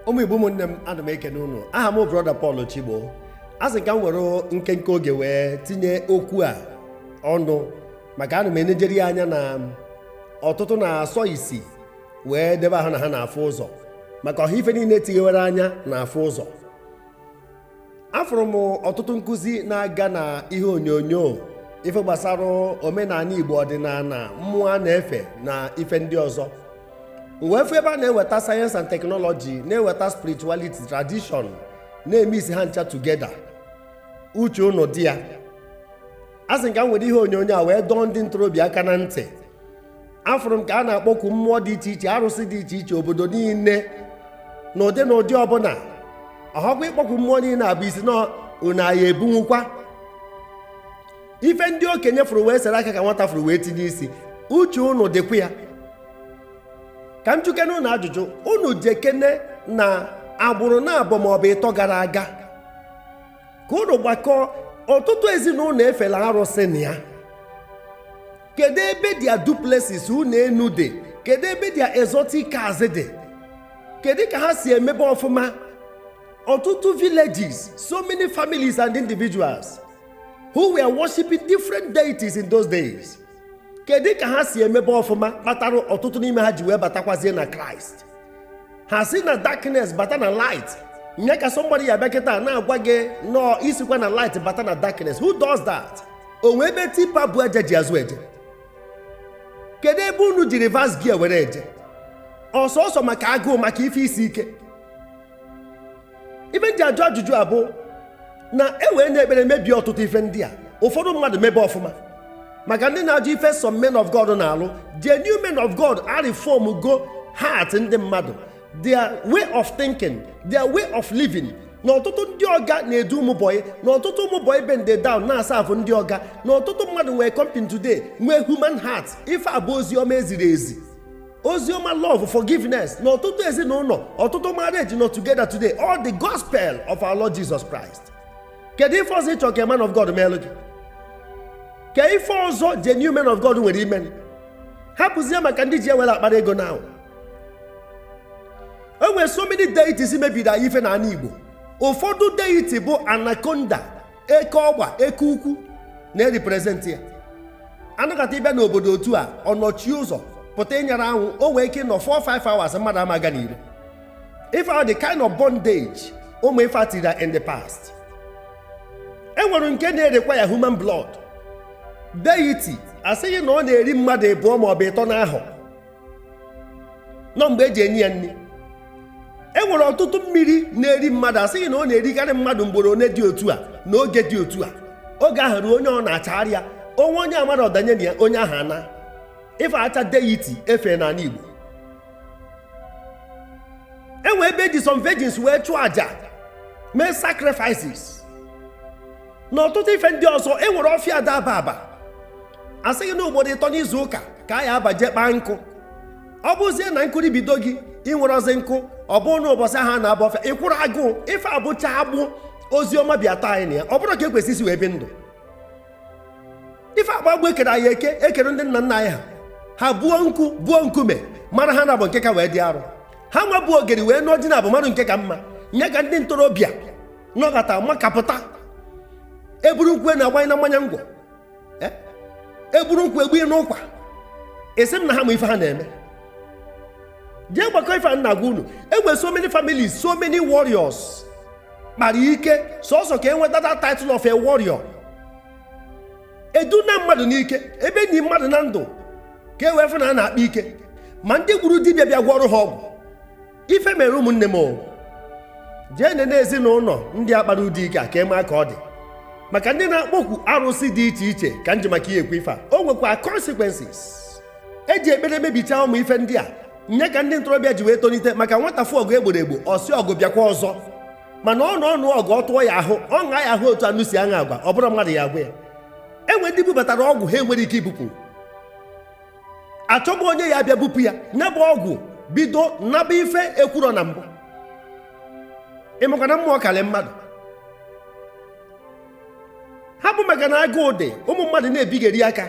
ụmụ igbo ụmụnne m ana m ekene unu aha m brọda Paul Chigbo asị m ka m were nkenke oge wee tinye okwu a ọnụ maka ana m enejere ya anya na ọtụtụ na-asọ isi wee debe ha na ha na-afụ ụzọ maka ọhọ ife niile tighewere anya na-afụ ụzọ afụrụ m ọtụtụ nkụzi na-aga na ihe onyonyo ife gbasara omenala igbo ọdịnala mmụọ a na-efe na ife ndị ọzọ m wee fụ ebe a na-eweta science and technology na-eweta spirituality tradition na-emiksi ha ncha together uche unu dị ya asị m ka m were ihe onyonyo a wee dọọ ndị ntorobịa aka na ntị afụrụ m ka a na-akpọku mmụọ dị iche iche arụsị dị iche iche obodo niile na ụdị na ụdị ọbụla ọhọkwa ịkpọku mmụọ niile a bụ isi na unu a ya-ebunwukwa ife ndị okenye fụrụ wee sere aka ka nwata fụrụ wee tinye isi uche unu dịkwa ya ka m jụkene unu ajụjụ unu jekene na agbụrụ na abụọ maọbụ ịtọ gara aga ka unu gbakọọ ọtụtụ ezinụlọ efela arụsị na ya kedu ebe their duplexes ụnọ enu dị kedu ebe their exotic cars dị kedu ka ha si emebe ọfụma ọtụtụ villages so many families and individuals who were worshiping different deities in those days kedu ka ha si emebe ọfụma kpatara ọtụtụ n'ime ha ji wee batakwazie na Christ ha si na darkness bata na light nya ka somebody ya-abịa kịta na-agwa gị na ọ isikwa na light bata na darkness who does that o nwe ebe tipa bu aja ji azụ eje kedu ebe unu ji reverse gear were eje ọsọsọ maka agụụ maka ife isi ike ife m ji ajụ ajụjụ a bụ na e weena ekpere mebie ọtụtụ ife ndị a ụfọdụ mmadụ mebe ọfụma maka ndị na-ajụ ife some men of God na-alụ genuine men of God areformgo heart ndị mmadụ their way of thinking their way of living na ọtụtụ ndị ọga na-edu ụmụ bọyị na ọtụtụ ụmụ bọyị bend down na-aserve ndị ọga na ọtụtụ mmadụ nwee company today nwee human heart ife a bụ ozi ọma e ziri ezi oziọma love forgiveness na ọtụtụ ezinụlọ ọtụtụ marriage nọ together today all the gospel of our lord jesus christ kedu ife ọzọ ị chọ ka man of god meelụ gị kee ife ọzọ genuine man of god nwere ime hapụzie maka ndị ji ewere akpara ego now o nwere so many deities mebiri anyị ife na ala igbo ụfọdụ deity bụ anaconda eke ọgba eke ukwu na-eriprezentị ya anaconda ị bịa n'obodo otu a ọ nọchie ụzọ pụta ịnyara anwụ o nwee ike ịnọ 4-5 hours mmadụ ama aga n'iro ife ahụ the kind of bondage ụmụ ife atira in the past e nwere nke na-erequire human blood deity a sị gị na ọ na-eri mmadụ ịbụọ maọbụ ịtọ n'ahọ nọ mgbe eji enye ya nri e nwere ọtụtụ mmiri na-eri mmadụ asịghị na ọ na-erikarị mmadụ mgboro one dị otu a n'oge dị otu a oge ahụ ruo onye ọ na-achagharị ya onwe onye amara ọ danye na ya onye ahụ ana ife acha deity efe n'ala Igbo enwe ebe eji some virgins wee chụọ aja mee sacrifices na ọtụtụ ife ndị ọzọ e nwere ọfịa ada aba aba asịghị na ugboro ịtọ n'izu ụka ka a ya abaje kpaa nkụ ọ bụzie na nkụri bido gị i nwerozi nkụ ọ bụrụ na ụbọchị ahụ a na-aba ọfịa ị kwụrụ agụụ ife bụcha agbụ ozi ọma bịa tọọ anyị na ya ọ bụrụ ka ekwesị isi wee bi ndụ ife agbụ agbụ ekere anyị eke ekere ndị nna nna anyị ha ha buo nkụ buo nkume mara ha naabọ nke ka wee dị arụ ha nwa bụ ogeri wee nụọ di naabọ mara nke ka mma nye ka ndị ntorobịa nọgata makapụta eburu nkwụ enu agbanye na mmanya ngwọ eh? eburu nkwụ egbu n'ụkwa esi m na ha ma ife ha na-eme jee gbakọ ife a na-agwa unu enwe so many families so many warriors kpara ike sọsọ ka enweta that title of a warrior eduna mmadụ n'ike ebe eni mmadụ na ndụ ka e wee fụ na a na-akpa ike ma ndị gburu dibịa bịa gwọrọ ha ọgwụ ife mere ụmụnne m o jee nene ezinụlọ ndị akpara ụdị ike a ka ịma ka ọ dị maka ndị na-akpọkwu arụsị dị iche iche ka nji maka ya ekwu ife a o nwekwa consequences eji ekpere mebichaa ụmụ ife ndị a nye ka ndị ntorobịa ji wee tonite maka nwata fụ ọgụ egboro egbo ọ sị ọgụ bịakwa ọzọ mana ọ nụọ ọnụ ọgụ ọ tụọ ya ahụ ọ ṅaa ya ahụ otu anwụ si aṅa agwa ọ bụrọ mmadụ ya agwa ya enwe ndị bubatara ọgwụ ha enwerọ ike ibupụ achọbụ onye ya abịa bupụ ya ya bụ ọgwụ bido naba ife ekwurọ na mbụ ịmakwa na mmụọ karị mmadụ ha bụ maka na agụụ dị ụmụ mmadụ na-ebigheri aka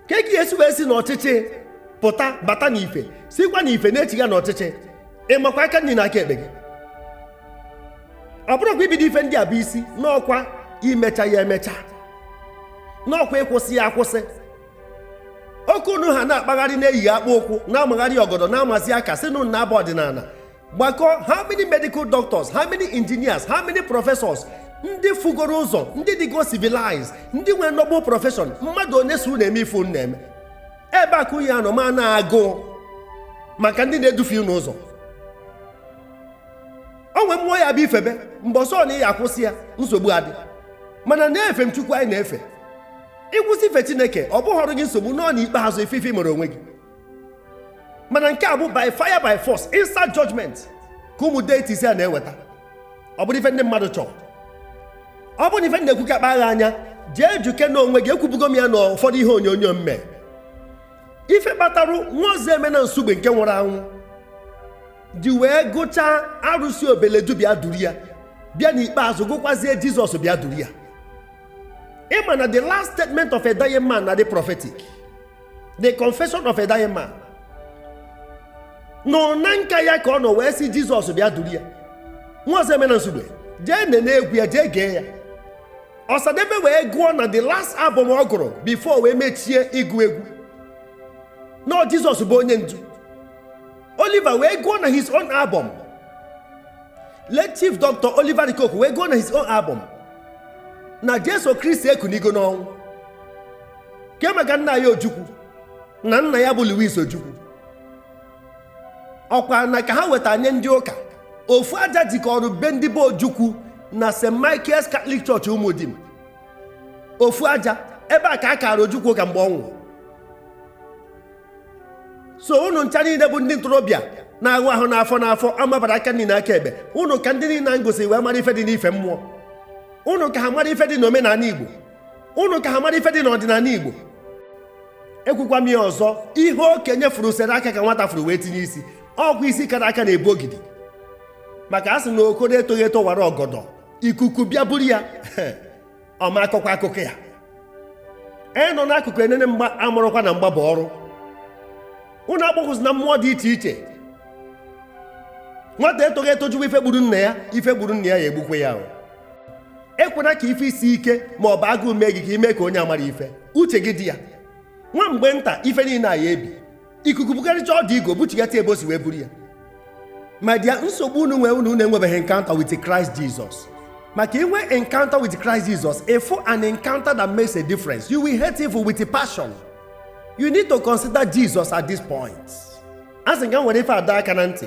kee ka ị ya esi wee si n'ọchịchị pụta bata n'ife sikwa n'ife na-echiga n'ọchịchị ịmakwa aka nri na aka ekpe gị ọ bụrọkwa ibido ife ndị a bụ isi na ọ kwa imecha ya emecha na ọ kwa ịkwụsị ya akwụsị oke unu ha na-akpagharị na-eyi akpụ ụkwụ na-amagharị ọgọdọ na-amazi aka sị na unu na abụ ọdịnala gbakọ how many medical doctors how many engineers how many professors ndị fugoro ụzọ ndị dịgo civilized ndị nwere noble profession mmadụ one so na-eme ife unu na-eme ebe a ka unu ya anọ ma na-agụ maka ndị na-edufe unu ụzọ o nwee mmụọ ya-abụ i febe mgbe ọsọ na ị ya-akwụsị ya nsogbu adị mana na-efe m chukwu anyị na-efe ịkwụsị ife chineke ọ bụhọrọ gị nsogbu nọ n'ikpeazụ ị fụ ife i mere onwe gị mana nke a bụ by fire by force instant judgment ka ụmụ deities a na-eweta ọ bụrụ ife ndị mmadụ chọrọ ọ bụrụ na ife m na-ekwu ka agbagha anya jee jụke na onwe gị ekwubugo m ya na ụfọdụ ihe onyonyo m mee ife kpatarụ nwa ọzọemena nsugbe nke nwụrụ anwụ ji wee gụchaa arụsị obeledu bịa duru ya bịa n'ikpeazụ gụkwazie jizọs bịa duru ya ịma na the last statement of a dying man na-adị prophetic the confession of a dying man nọ na nka ya ka ọ nọ wee sị jizọs bịa duru ya nwa ọzọemena nsugbe jee nene egwu ya jee gee ya ọsadebe wee gụọ na the last album ọ gụrụ before wee mechie ịgụ egwu na jizọs bụ onye ndu Oliver wee gụọ na his own album late chief Dr. Oliver De Coque wee gụọ na his own album na Jesu Kristi ekunigo n'ọnwụ ke maka nna anyị Ojukwu na nna ya bụ Louis Ojukwu ọkwa ana ka ha weta nye ndị ụka ofu aja jikọrọ be ndị bụ Ojukwu na St. Michael's Catholic Church Umudim ofu aja ebe a ka a kaara Ojukwu ụka mgbe ọ nwụrụ so unu ncha niile bụ ndị ntorobịa na-aghụ ahụ n'afọ n'afọ amabara aka nri na aka ekpe unu ka ndị niile m gosi wee mara ife dị n'ife mmụọ unu ka ha mara ife dị n'omenala igbo unu ka ha mara ife dị n'ọdịnala igbo ekwukwa m ya ọzọ ihe okenye furu sere aka ka nwata furu wee tinye isi ọkwa isi kara aka na-ebu ogidi maka a sị na okoro etoghị eto wara ọgọdọ ikuku bịa buru ya ọ ma akọkwa akụkọ ya e nọ n'akụkụ enene mgba amụrụkwa na mgba bụ ọrụ unu agbakwuzina mmụọ dị iche iche nwata etoghị eto jụwa ife gburu nna ya ife gburu nna ya ya egbukwe ya ahụ ekwena ka ife isi ike ma ọ bụ agụụ mee gị ka i mee ka onye amara ife uche gị dị ya nwa mgbe nta ife niile a ya ebi ikuku bugharịcha ọdụ igu buchigata ebe o si wee buru ya my dear nsogbu unu nwee unu enwebeghị encounter with Christ Jesus maka i nwee encounter with Christ Jesus ịfụ an encounter that makes a difference you will hate evil with a passion you need to consider Jesus at this point a sị ka m were ife ada aka na ntị